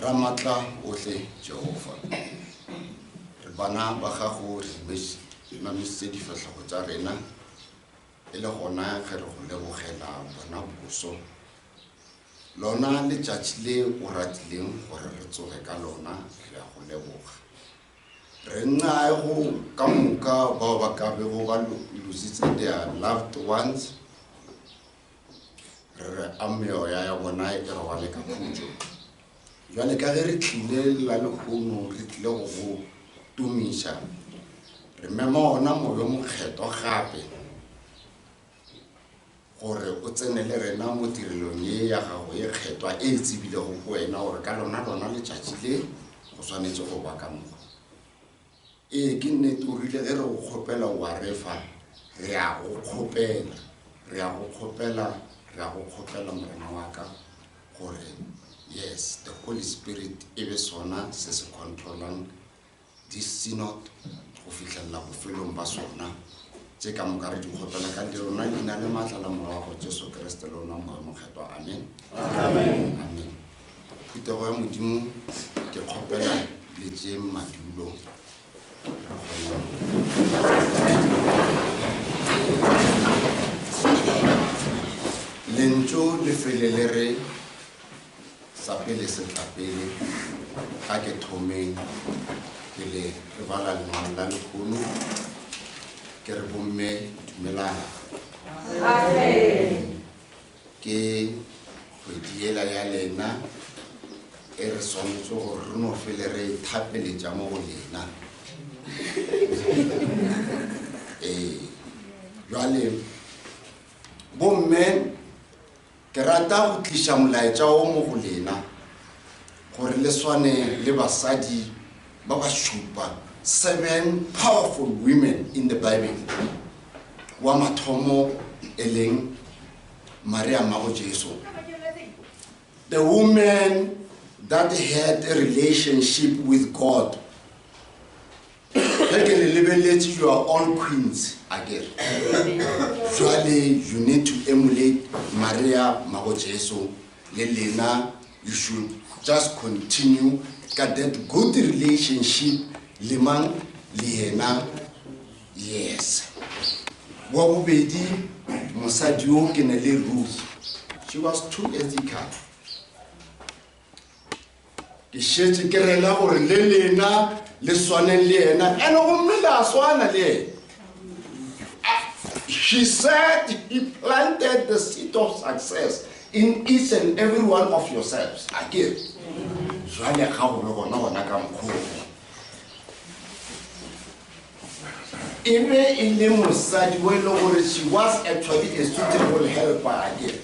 ramatla ohle jehova re bana ba gago re mameditse difahlogo tsa rena e le gona ge re go lebogela bona boso lona letšatši le o ratileng gore re tsoge ka lona re ya go leboga Re nnae go ka moka bao ba ka bego ba lositse their loved ones, re re a meoya ya bona e robale ka khutšo. Jwale ka ge re tlile la lekgono re tlile go go tumiša, re mema ona moyo mokgethwa gape. gore o tsene le rena mo tirelong ye ya gago e kgetwa e e tsebilego go wena gore ka lona lona letšatši le go swanetše go ba ka moka ee ke nnete o rile ge re go kgopela wa refa re a go kgopela re a go kgopela re a go kgopela morena wa ka gore yes the holy spirit e be sona se se controlang Di-synod go fihlelela bofelong ba sona, tše ka moka re di kgopela ka le lona leina le maatla la Morwa wa go Jesu Kriste le ona Morwa Mokgethwa. Amen. Amen. Amen. Phutego ya Modimo ke kgopela le tše madulo lentšu le fele le re Sa pele se tla pele, ga ke thomeng pele re bala lengwalo la lekhono, ke re bomme dumelang. Ke kgwedi yela ya lena e re swanetso gore re no fele re ithapeletša mo go lena. Ee, jwale bomme Ke rata go tliša molaetša wo mo go lena, gore le swane le basadi ba ba šupa, seven powerful women in the Bible. Wa mathomo e leng Maria mmago Jesu, the woman that had a relationship with God. Ge ke le lebeletše you are all queens akere. Jwale you need to emulate Maria Mmago Jesu le lena you should just continue ka that good relationship le mang le yena yes. Wa bobedi mosadi yo ke ne le Ruth she was too ethical. Ke šetše ke rela gore le lena le swaneng le yena, ene gomme la swana le yena. She said he planted the seed of success in each and every one of yourselves. A ke jwale ga go be gona gona ka mokgone. E be e le mosadi o e le gore she was actually a suitable helper a ke.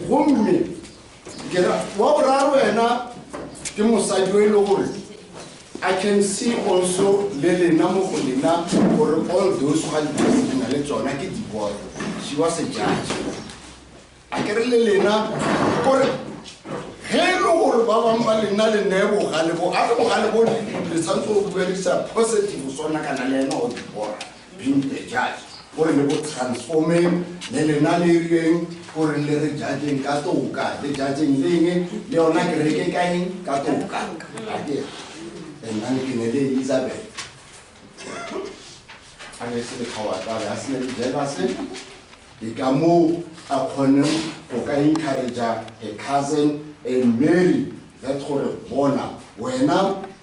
Gomme Kena wa boraro wena ke mosadi o e le gore I can see also le lena mo go lena gore all those ga di na le tsona ke diboy she was a judge a ke re le lena gore ge e le gore ba bangwe ba lena le ne bogale bo a re bogale bo le tshwanetse go buelisa positive sona kana le ena o dibora Being a judge go re le go transformeng, le lena le reng go re le re judgeng ka toka, le judgeng le eng, le yona kereke ka eng, ka toka. Akere and nane ke ne le Elizabeth a ne se le kgawatlale a se ne le jelase ke ka moo a kgoneng go ka encouragea a cousin and mary that gore bona wena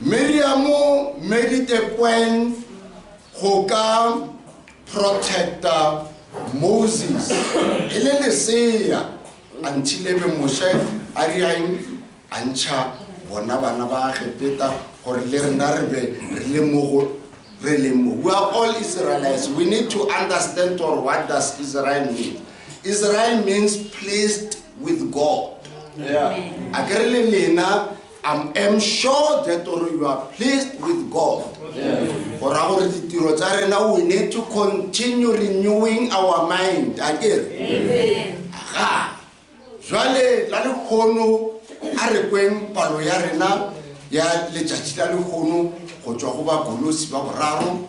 Miriamo medite kwen go ka protecta Moses e le lesea until ebe Moshe a riaeng a ntšha bona bana ba Egepeta gore le rena re be re le mo go re leng mo. We are all Israelites. We need to understand or what does Israel mean. Israel means pleased with God. Yeah. A ke re le lena I'm am sure that or you are pleased with God. Go ra gore ditiro tsa rena we need to continue renewing our mind. A ke re. Ga. Jwale la le khono a re kweng palo ya rena ya letšatši la le khono go tswa go ba golosi ba boraro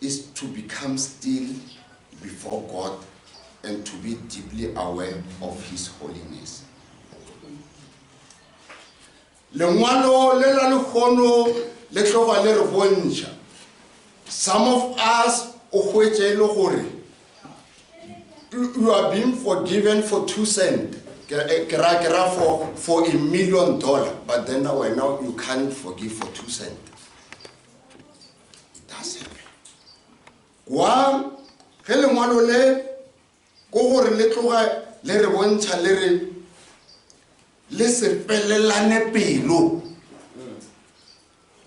is to become still before God and to be deeply aware of His holiness. Lengwalo le la lehono le tloga le re bontšha some of us o hwetše e le gore you are being forgiven for two cent eh, ke ra ke ra for for a million dollar but then now wena you can't forgive for two cent it does happen kwa ge lengwalo le ko gore le tloga le re bontšha le re le se felelane pelo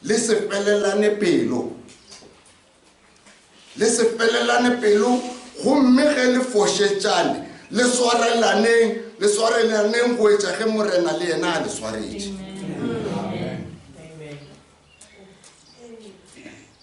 Le se felelane pelo. Le se felelane pelo, gomme ge le fošetšane, le swarelaneng, le swarelaneng go etša ge Morena le yena a le swaretše.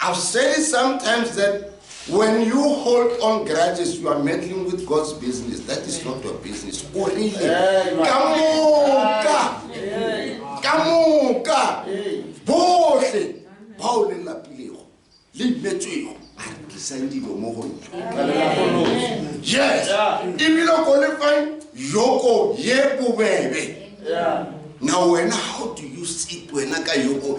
I've said it sometimes that when you hold on grudges you are meddling with God's business that is not your business o rile ka moka ka moka bohle bao le lapilego le imetswego a re tlisang dilo mo go nna yes ebile ko lefang yoko ye bobebe na wena how do you sit wena ka yoko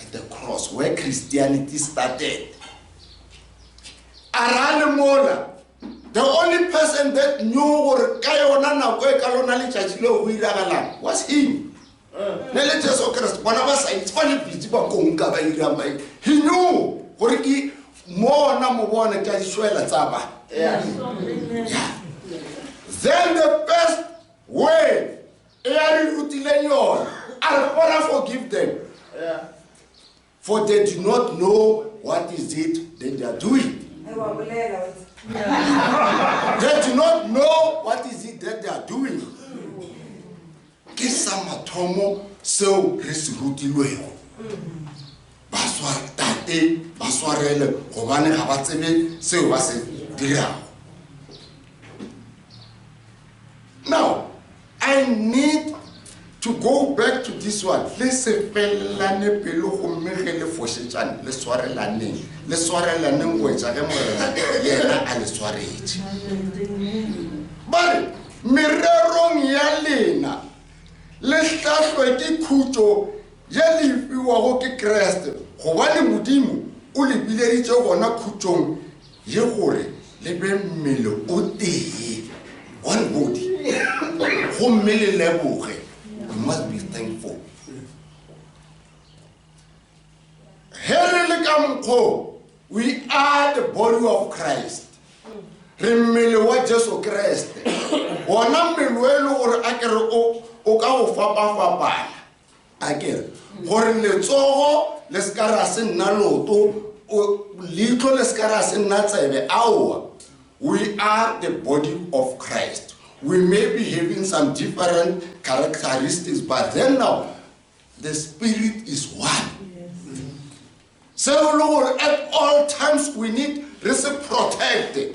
at the cross where christianity started arale mola the only person that knew gore ka yona nako e ka lona letšatši leo go iragalang was him ne le jesu kreste bona ba saitse ba lebitse ba konka ba irang ba he knew gore ke mona mo bone ka ditšwela tsa ba then the best way e a re rutileng yona a re gona forgive them for they do not know what is it that they are doing they do not know what is it that they are doing ke sa mathomo seo re se rutilwego Ba sware, tate, ba swarele gobane ga ba tsebe seo ba se dirago. Now, I need to go back to this one. Le sepelelane pelo gomme ge le fošetšane, le swarelaneng. Le swarelaneng go etša ge morena yena a le swaretše. Ba re, mererong ya lena le hlahlwe ke khutšo Ye le e fiwago ke Kriste, gobane Modimo o le bileditše gona khutšong ye gore le be mmele o tee, one body. Gomme le leboge, we must be thankful. Ge re le ka mokgo, we are the body of Christ. Re mmele wa Jesu Kriste. Wona mmele o e le gore a ke re o ka go fapafapana. A ke re, gore letsogo le se ka ra se nna loto, o, leihlo le se ka ra se nna tsebe, aowa. We are the Body of Christ. We may be having some different characteristics, but then now, the Spirit is one. Seo le gore at all times we need re se protecte.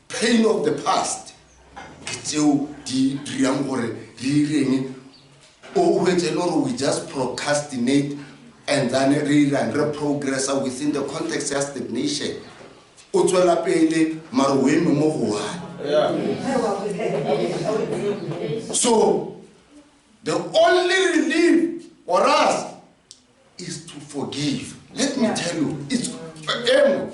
Pain of the past ke tšeo di dirang gore re ireng o hwetše le gore we just procrastinate and then re irang re progressa within the context ya stagnation o tswela pele mare o eme mo go one so the only relief for us is to forgive let me tell you it's emo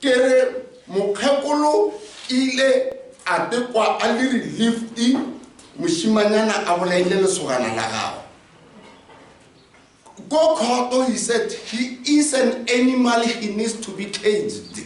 ke re mokgekolo ile a tekwa a le relieved moshimanyana a bolaile lesogana la gago ko khoto he said he is an animal he needs to be caged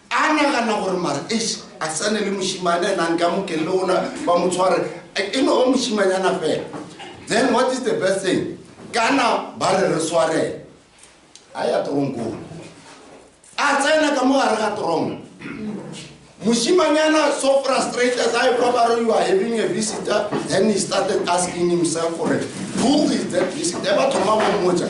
A nagana gore mara eish a sa ne le mošimane and a nka mokelele ona ba mo tshware e no ba mošimanyana fela. Then what is the best thing? Kana ba re re swarele. A ya tronkong. A tsena ka mo gare ga tronko. Mushimanyana so frustrated as I probably you are having a visitor, then he started asking himself for it. Who is that visitor? Ever to mama moja.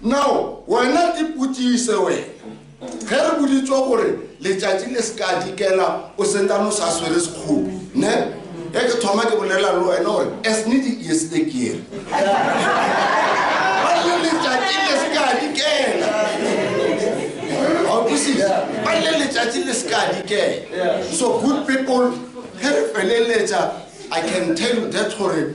Now, wena ipotšiše wena, ge re boditšwe gore letšatši le se ka dikela o sentane o sa swere sekgopi, ne? Ge ke thoma ke bolela le wena gore as ne di yes e kere. Ba le letšatši le se ka dikela. Ga o kwisise? Ba le letšatši le se ka dikela. So good people, ge re feleletša, I can tell you that gore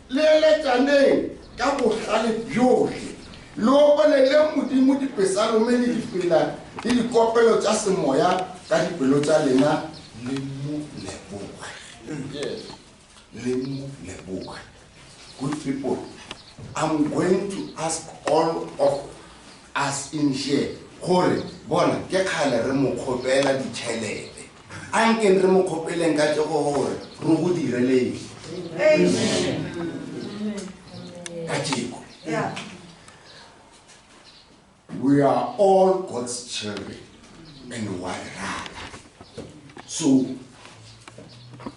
Le eletšaneng ka bohlale bjohle, le opeleleng Modimo dipesalome le dipina le dikopelo tša semoya ka dipelo tša lena, le mo leboge. Le mo leboge. Good people, I'm going to ask all of us in here gore, bona, ke kgale re mo kgopela ditšhelete. Ankeng re mo kgopeleng ka tšego gore re go direleng ka tšeko. We are all God's children and wa re rata. So,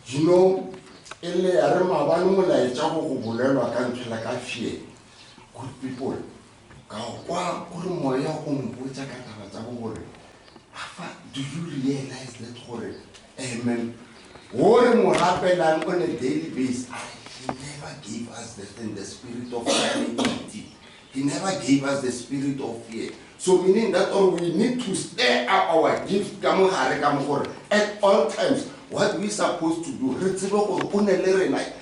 you know, e le ya re mabane molaetša go go bolelwa ka nthwela ka fear. Good people. Ka kwa o re moya o mpotsa ka taba tsa bo gore afa do you realize that gore amen wo re mo rapelang on a daily base a re he never gave us the, in the spirit of humility he never gave us the spirit of fear so meaning that or we need to stir up our gift ka mogare ka mo gore at all times what we supposed to do re tsebe gore o ne le rena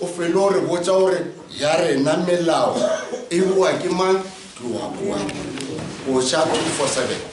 O felo re botša gore ya rena melao e boa ke mang? Tloa kua. Boša 247.